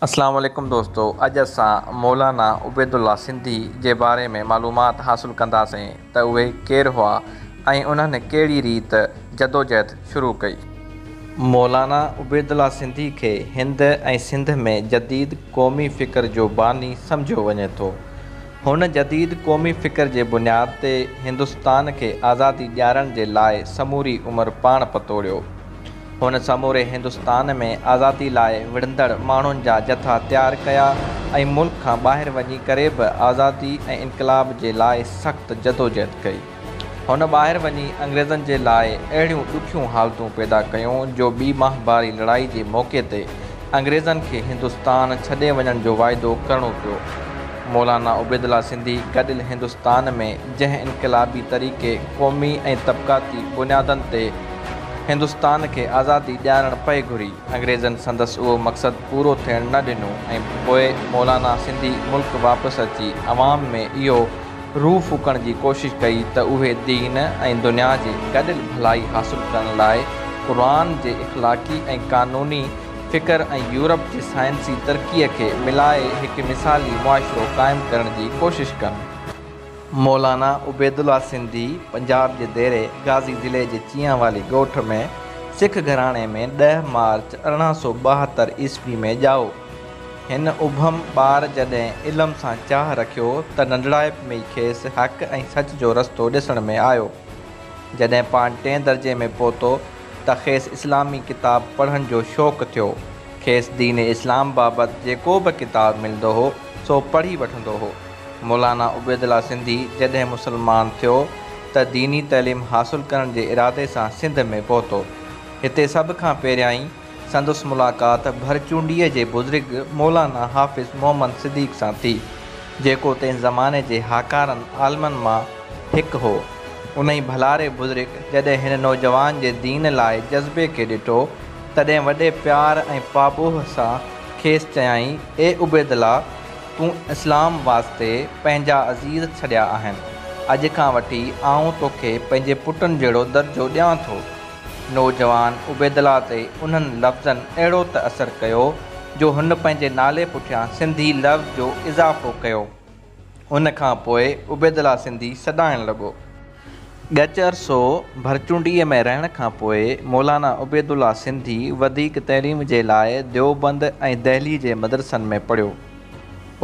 اسلام عليڪم دوستو اڄ اسان مولانا عبيدالله سنڌي جي باري ۾ معلومات حاصل ڪنداسين ته اهي ڪير هئا ۽ انهن ڪهڙي ريت جدوجهد شروع ڪئي. مولانا عبيدالله سنڌي کي هند ۽ سنڌ ۾ جديد قومي فڪر جو باني سمجهيو وڃي ٿو. هن جديد قومي فڪر جي بنياد تي هندستان کي آزادي ڏيارڻ جي لاء سموري عمر پاڻ پتوڙيو. هن سموري هندستان ۾ آزادي لاء وڙهندڙ ماڻهن جا جٿا تيار ڪيا ۽ ملڪ کان ٻاهر وڃي ڪري به آزادي ۽ انقلاب جي لاء سخت جدوجهد ڪئي. هن ٻاهر وڃي انگريزن جي لاء اهڙيون ڏکيون حالتون پيدا ڪيون جو ٻي ماهڀاري لڙائي جي موقعي تي انگريزن کي هندستان ڇڏي وڃڻ جو واعدو ڪرڻو پيو. مولانا عبيدالله سنڌي گڏيل هندستان ۾ جنهن انقلابي طريقي قومي ۽ طبقاتي بنيادن تي هندستان کي آزادي ڏيارڻ پئي گهري، انگريزن سندس اهو مقصد پورو ٿيڻ نه ڏنو ۽ پوء مولانا سنڌي ملڪ واپس اچي عوام ۾ اهو روح ڦوڪڻ جي ڪوشش ڪئي ته اهي دين ۽ دنيا جي گڏيل ڀلائي حاصل ڪرڻ لاء قرآن جي اخلاقي ۽ قانوني فڪر ۽ يورپ جي سائنسي ترقيء کي ملائي هڪ مثالي معاشرو قائم ڪرڻ جي ڪوشش ڪن. مولانا عبيدالله سنڌي پنجاب جي ديري غازي ضلعي جي چيان والي ڳوٺ ۾ سک گهراڻي ۾ ڏهه مارچ ارڙهن سؤ ٻاهتر عيسوي ۾ ڄائو. هن اڀم ٻار جڏهن علم سان چاهه رکيو ته ننڍڙائپ ۾ ئي کيس حق ۽ سچ جو رستو ڏسڻ ۾ آيو. جڏهن پاڻ ٽئين درجي ۾ پهتو ته کيس اسلامي ڪتاب پڙهڻ جو شوق ٿيو. کيس دين اسلام بابت جيڪو به ڪتاب ملندو هو سو پڙهي وٺندو هو. مولانا عبيدالله سنڌي جڏهن مسلمان ٿيو ته ديني تعليم حاصل ڪرڻ جي ارادي سان سنڌ ۾ پهتو. هتي سڀ کان پهريائين سندس ملاقات ڀرچونڊيء جي بزرگ مولانا حافظ محمد صديق سان ٿي، جيڪو تنهن زماني جي هاڪارن عالمن مان هڪ هو. انهي ڀلاري بزرگ جڏهن هن نوجوان جي دين لاء جذبي کي ڏٺو، تڏهن وڏي پيار ۽ پاٻوهه سان کيس چيائين، اي عبيدالله! تون اسلام واسطي پنهنجا عزيز ڇڏيا آهن. اڄ کان وٺي آئون توکي پنهنجي پٽن جهڙو درجو ڏيان ٿو. نوجوان عبيدالله تي انهن لفظن اهڙو ته اثر ڪيو جو هن پنهنجي نالي پٺيان سنڌي لفظ جو اضافو ڪيو. ان کان پوء عبيدالله سنڌي سڏائڻ لڳو. ڳچ عرصو ڀرچونڊيء ۾ رهڻ کان پوء مولانا عبيدالله سنڌي وڌيڪ تعليم جي لاء ديوبند ۽ دهلي جي مدرسن ۾ پڙهيو.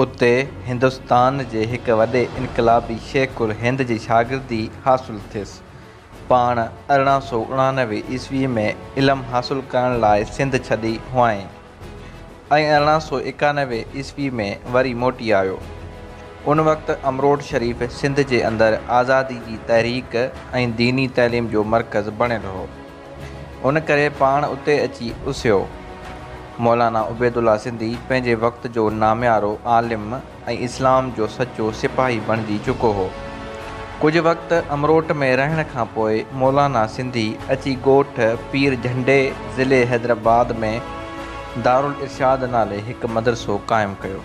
اتي هندستان جي هڪ وڏي انقلابي شيخ الهند جي شاگردي حاصل ٿيس. پاڻ ارڙهن سؤ اڻانوي عيسويء ۾ علم حاصل ڪرڻ لاء سنڌ ڇڏي هئائين. ۽ ارڙهن سؤ ايڪانوي عيسوي ۾ وري موٽي آيو. ان وقت امروٽ شريف سنڌ جي اندر آزادي جي تحريڪ ۽ ديني تعليم جو مرڪز بڻيل هو. ان ڪري پاڻ اتي اچي اسهيو. مولانا عبيدالله سنڌي پنهنجي وقت جو ناميارو عالم، ۽ اسلام جو سچو سپاهي بڻجي چڪو هو. ڪجهه وقت امروٽ ۾ رهڻ کان پوء مولانا سنڌي اچي ڳوٺ پير جهنڊي ضلعي حيدرآباد ۾ دارالارشاد نالي هڪ مدرسو قائم ڪيو.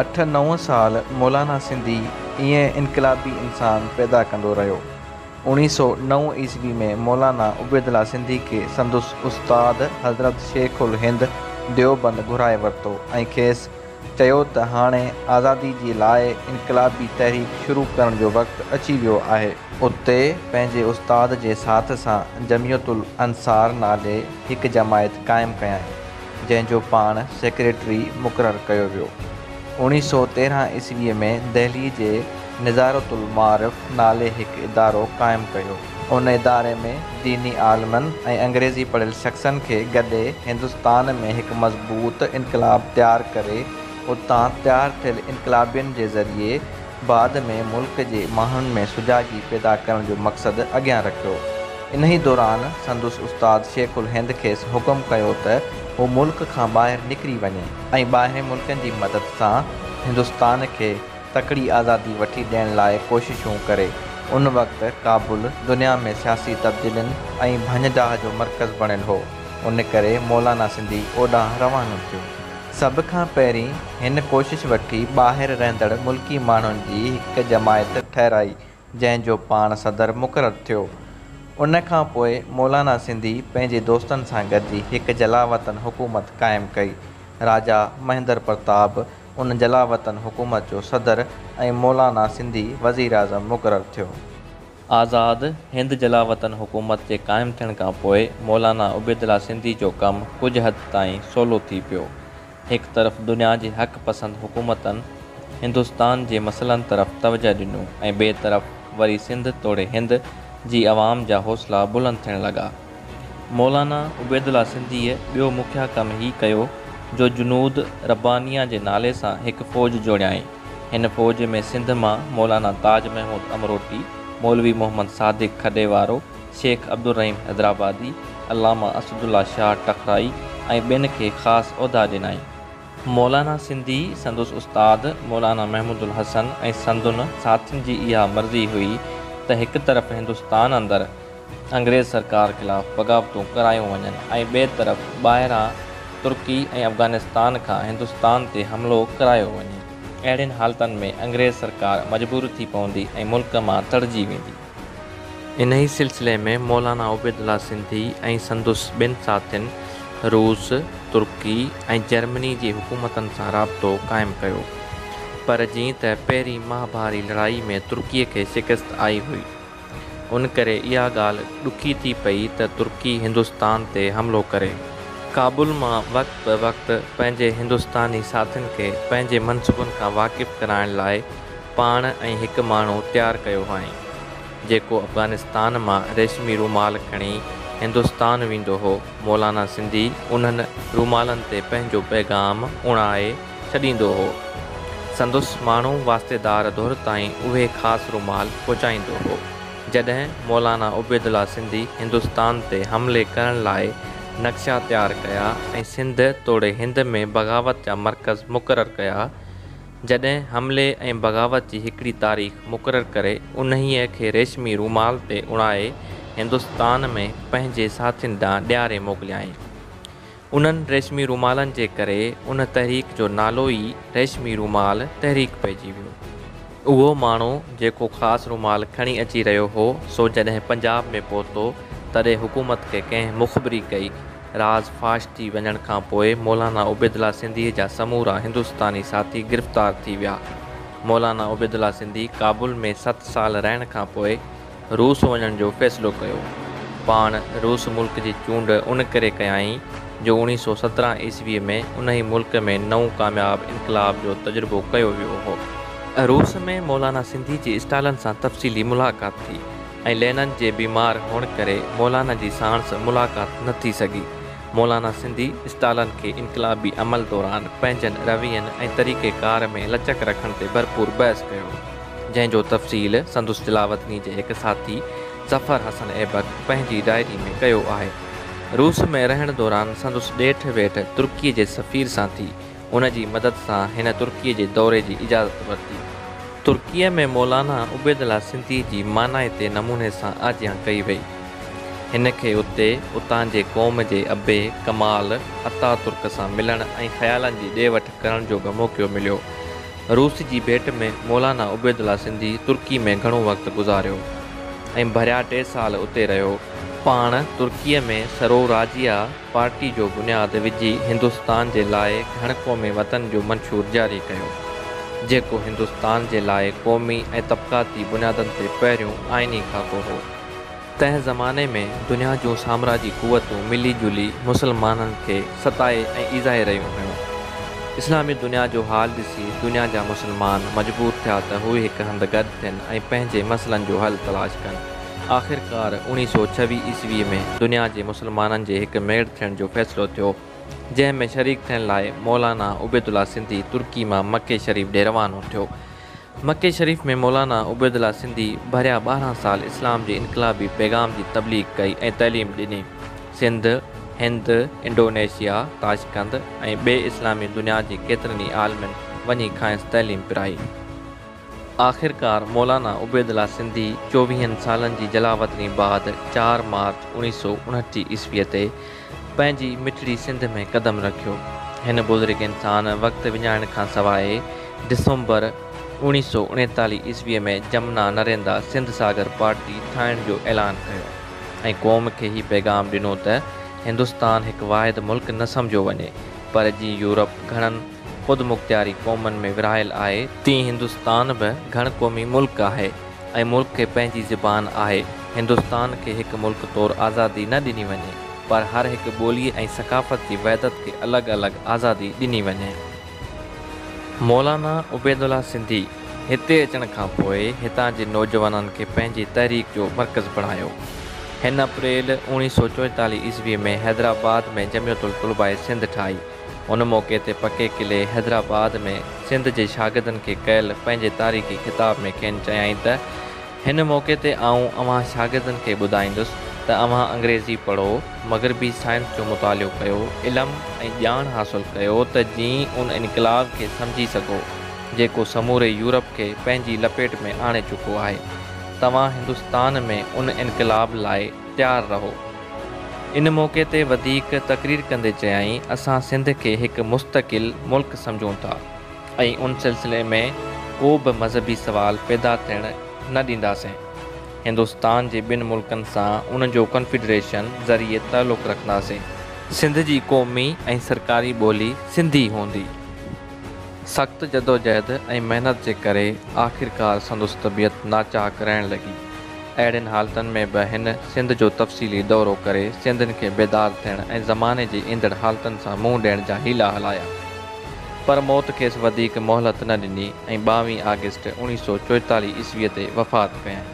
اٺ نو سال مولانا سنڌي ائين انقلابي انسان پيدا ڪندو رهيو. اوڻيهه سؤ نو عيسوي ۾ مولانا عبيدالله سنڌي کي سندس استاد حضرت شيخ الهند ديوبند گهرائي ورتو ۽ کيس چيو ته هاڻي آزادي جي لاء انقلابي تحريڪ شروع ڪرڻ جو وقت اچي ويو آهي. اتي پنهنجي استاد جي ساٿ سان جميعت الانصار نالي هڪ جماعت قائم ڪيائين، جنهن جو پاڻ سيڪريٽري مقرر ڪيو ويو. اوڻيهه سؤ تيرهن عيسويء ۾ دهلي جي نظارة المعارف نالي هڪ ادارو قائم ڪيو. ان اداري ۾ ديني عالمن ۽ انگريزي پڙهيل شخصن کي گڏي هندستان ۾ هڪ مضبوط انقلاب تيار ڪري اتان تيار ٿيل انقلابين جي ذريعي بعد ۾ ملڪ جي ماڻهن ۾ سجاڳي پيدا ڪرڻ جو مقصد اڳيان رکيو. انهي دوران سندس استاد شيخ الهند کيس حڪم ڪيو ته هو ملڪ کان ٻاهر نڪري وڃي ۽ ٻاهرين ملڪن جي مدد سان هندستان کي تڪڙي آزادي وٺي ڏيڻ لاء ڪوششون ڪري. ان وقت ڪابل دنيا ۾ سياسي تبديلين ۽ ڀڃ ڊاهه جو مرڪز بڻيل هو، ان ڪري مولانا سنڌي اوڏانهن روانو ٿيو. سڀ کان پهرين هن ڪوشش وٺي ٻاهر رهندڙ ملڪي ماڻهن جي هڪ جماعت ٺهرائي، جنهن جو پاڻ صدر مقرر ٿيو. ان کان پوء مولانا سنڌي پنهنجي دوستن سان گڏجي هڪ جلاوطن حڪومت قائم ڪئي. راجا مهندر پرتاب، ان جلاوطن حڪومت جو صدر ۽ مولانا سنڌي وزيراعظم مقرر ٿيو. آزاد هند جلاوطن حڪومت جي قائم ٿيڻ کان پوء مولانا عبيدالله سنڌي جو ڪم ڪجهه حد تائين سولو ٿي پيو. هڪ طرف دنيا جي حق پسند حڪومتن هندستان جي مسئلن طرف توجهه ڏنو ۽ ٻئي طرف وري سنڌ توڙي هند جي عوام جا حوصلا بلند ٿيڻ لڳا. مولانا عبيدالله سنڌيء ٻيو مکيه ڪم هي ڪيو جو جنود ربانيه جي نالي سان هڪ فوج جوڙيائين. هن فوج ۾ سنڌ مان مولانا تاج محمود امروٽي، مولوي محمد صادق کڏي وارو، شيخ عبدالرحيم حيدرآبادي، علامه اسدالله شاهه ٽکرائي ۽ ٻين کي خاص عهدا ڏنائين. مولانا سنڌي، سندس استاد مولانا محمود الحسن ۽ سندن ساٿين جي اها مرضي هئي ته هڪ طرف هندستان اندر انگريز سرڪار خلاف بغاوتون ڪرايون وڃن ۽ ٻئي طرف ٻاهران ترڪي ۽ افغانستان کان هندستان تي حملو ڪرايو وڃي. اهڙين حالتن ۾ انگريز سرڪار مجبور ٿي پوندي ۽ ملڪ مان تڙجي ويندي. انهي سلسلي ۾ مولانا عبيدالله سنڌي ۽ سندس ٻن ساٿين روس، ترڪي ۽ جرمني جي حڪومتن سان رابطو قائم ڪيو. پر جيئن ته پهرين مهاڀاري لڙائي ۾ ترڪي کي شڪست آئي هئي. ان ڪري اها ڳالهه ڏکي ٿي پئي ته ترڪي هندستان تي حملو ڪري. ڪابل مان وقت به وقت پنهنجي هندستاني ساٿين کي پنهنجي منصوبن کان واقف ڪرائڻ لاء پاڻ ۽ هڪ ماڻهو تيار ڪيو هئائين، جيڪو افغانستان مان ريشمي رومال کڻي هندستان ويندو هو، مولانا سنڌي انهن رومالن تي پنهنجو پيغام اڻائي، ڇڏيندو هو. سندس ماڻهو واسطيدار ڌر تائين اهي خاص رومال پهچائيندو هو. جڏهن مولانا عبيدالله سنڌي هندستان تي حملي ڪرڻ لاء نقشا تيار ڪيا ۽ سنڌ توڙي هند ۾ بغاوت جا مرڪز مقرر ڪيا، جڏهن حملي ۽ بغاوت جي هڪڙي تاريخ مقرر ڪري انهيء کي ريشمي رومال تي اڻائي هندستان ۾ پنهنجي ساٿين ڏانهن ڏياري موڪليائين. انهن ريشمي رومالن جي ڪري ان تحريڪ جو نالو ئي ريشمي رومال تحريڪ پئجي ويو. اهو ماڻهو جيڪو خاص رومال کڻي اچي رهيو هو سو جڏهن پنجاب ۾ پهتو تڏهن حڪومت کي ڪنهن مخبري ڪئي. راز فاش ٿي وڃڻ کان پوء مولانا عبيدالله سنڌيء جا سمورا هندستاني ساٿي گرفتار ٿي ويا. مولانا عبيدالله سنڌي ڪابل ۾ ست سال رهڻ کان پوء، روس وڃڻ جو فيصلو ڪيو. پاڻ روس ملڪ جي چونڊ ان ڪري ڪيائين جو اوڻيهه سؤ سترهن عيسويء ۾ انهي ملڪ ۾ نئون ڪامياب انقلاب جو تجربو ڪيو ويو هو. روس ۾ مولانا سنڌي جي اسٽالن سان تفصيلي ملاقات ٿي ۽ لينن جي بيمار هئڻ ڪري مولانا جي ساڻس ملاقات نه ٿي سگهي. مولانا سنڌي اسٽالن کي انقلابي عمل دوران پنهنجن روين ۽ طريقي ڪار ۾ لچڪ رکڻ تي ڀرپور بحث ڪيو، جنهن جو تفصيل سندس تلاوتني جي هڪ ساٿي ظفر حسن ايبڪ پنهنجي ڊائري ۾ ڪيو آهي. روس ۾ رهڻ دوران سندس ڏيٺ ويٺ ترڪيء جي سفير سان ٿي. ان جي مدد سان هن ترڪيء جي دوري جي اجازت ورتي. ترڪيء ۾ مولانا عبيدالله سنڌيء جي مانائتي نموني سان آجيان ڪئي وئي. هن کي اتي اتان جي قوم جي ابي ڪمال اتاترڪ سان ملڻ ۽ خيالن جي ڏي وٺ ڪرڻ جو به موقعو مليو. روس جي ڀيٽ ۾ مولانا عبيدالله سنڌي ترڪي ۾ گهڻو وقت گذاريو ۽ ڀريا ٽي سال اتي رهيو. پاڻ ترڪيء ۾ سروراجيا، پارٽي جو بنياد وجهي هندستان جي لاء گهڻ قومي وطن جو منشور جاري ڪيو، جيڪو هندستان جي لاء قومي ۽ طبقاتي بنيادن تي پهريون آئيني خاڪو هو. تنهن زماني ۾ دنيا جون سامراجي قوتون ملي جلي مسلمانن کي ستائي ۽ ايذائي رهيون هيون. اسلامي دنيا جو حال ڏسي دنيا جا مسلمان مجبور ٿيا ته هو هڪ هنڌ گڏ ٿين ۽ پنهنجي مسئلن جو حل تلاش ڪن. آخرڪار اوڻيهه سؤ ڇويهه عيسويء ۾ دنيا جي مسلمانن جي هڪ ميڙ ٿيڻ جو فيصلو ٿيو، جنهن ۾ شريڪ ٿيڻ لاء مولانا عبيدالله سنڌي ترڪي مان مڪي شريف ڏي روانو ٿيو. مڪي شريف ۾ مولانا عبيدالله سنڌي ڀريا ٻارهن سال اسلام جي انقلابي پيغام جي تبليغ ڪئي ۽ تعليم ڏني. سنڌ، هند، انڊونيشيا، تاشقند ۽ ٻي اسلامي دنيا جي ڪيترن ئي عالمن وڃي کانئس تعليم پرائي. آخرڪار مولانا عبيدالله سنڌي چوويهن سالن جي جلاوطني بعد چار مارچ اوڻيهه سؤ اڻٽيهه عيسويء تي پنهنجي مٺڙي سنڌ ۾ قدم رکيو. هن بزرگ انسان وقت وڃائڻ کان سواء ڊسمبر اوڻيهه سؤ اڻيتاليهه عيسويء ۾ جمنا نريندا سنڌ ساگر پارٽي ٺاهڻ جو اعلان ڪيو ۽ قوم کي هي پيغام ڏنو ته هندستان هڪ واحد ملڪ نه سمجهيو وڃي پر جيئن يورپ گهڻن خودمختياري قومن ۾ ورهايل آهي، تيئن هندستان به گهڻ قومي ملڪ آهي ۽ ملڪ کي پنهنجي زبان آهي، هندستان کي هڪ ملڪ طور آزادي نه ڏني وڃي، پر هر هڪ ٻولي ۽ ثقافت جي وحدت کي الڳ الڳ آزادي ڏني وڃي. مولانا عبيدالله سنڌي هتي اچڻ کان پوء هتان جي نوجوانن کي پنهنجي تحريڪ جو مرڪز بڻايو. هن اپريل اوڻيهه سؤ چوئيتاليهه عيسوي ۾ حيدرآباد ۾ جمعيت الطلباء سنڌ ٺاهي. ان موقعي تي پڪي قلعي حيدرآباد ۾ سنڌ جي شاگردن کي ڪيل پنهنجي تاريخي خطاب ۾ کين چيائين ته هن موقعي تي آئون اوهان شاگردن کي ٻڌائيندس ته اوهان انگريزي پڙهو، مغربي سائنس جو مطالعو ڪيو، علم ۽ ڄاڻ حاصل ڪيو ته جيئن ان انقلاب کي سمجهي سگهو جيڪو سموري يورپ کي پنهنجي لپيٽ ۾ آڻي چڪو آهي. توهان هندستان ۾ ان انقلاب لاء تيار رهو. ان موقعي تي وڌيڪ تقرير ڪندي چيائين اسان سنڌ کي هڪ مستقل ملڪ سمجهون ٿا ۽ ان سلسلي ۾ ڪو به مذهبي سوال پيدا ٿيڻ نه ڏينداسين هندستان جي ٻن ملڪن سان ان جو ڪنفيڊريشن ذريعي تعلق رکنداسين. سنڌ جي قومي ۽ سرڪاري ٻولي سنڌي هوندي. سخت جدوجهد ۽ محنت جي ڪري آخرڪار سندس طبيعت ناچاڪ رهڻ لڳي. اهڙين حالتن ۾ به هن سنڌ جو تفصيلي دورو ڪري سنڌين کي بيدار ٿيڻ ۽ زماني جي ايندڙ حالتن سان منهن ڏيڻ جا حيلا هلايا. پر موت کيس وڌيڪ مهلت نه ڏني ۽ ٻاوهين آگسٽ اوڻيهه سؤ چوئيتاليهه عيسويء تي وفات ڪيائين.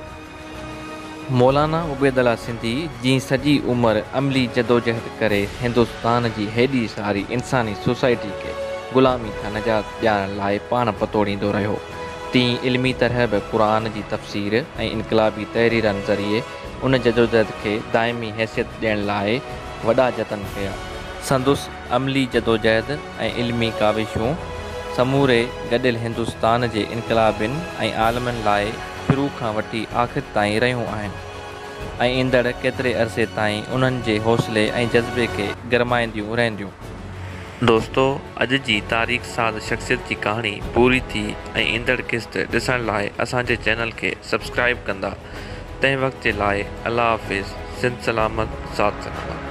مولانا عبيد الله سنڌي جي سڄي عمر عملي جدوجهد ڪري هندستان جي هيڏي ساري انساني سوسائٽي کي غلامي کان نجات ڏيارڻ لاء پاڻ پتوڙيندو رهيو تيئن علمي طرح به قرآن جي تفسير ۽ انقلابي تحريرن ذريعي ان جدوجهد کي دائمي حيثيت ڏيڻ لاء وڏا جتن ڪيا سندس عملي جدوجهد ۽ علمي ڪاوشون سموري گڏيل هندستان جي انقلابين ۽ عالمن لاء شروع کان وٺي آخر تائين رهيون آهن ۽ ايندڙ ڪيتري عرصي تائين انهن جي حوصلي ۽ جذبي کي گرمائينديون رهنديون. دوستو اڄ جي تاريخ ساز شخصيت جي ڪهاڻي پوري ٿي ۽ ايندڙ قسط ڏسڻ لاء اسان جي چينل کي سبسڪرائيب ڪندا تنهن وقت جي لاء الله حافظ سنڌ سلامت ساٿ سلامت.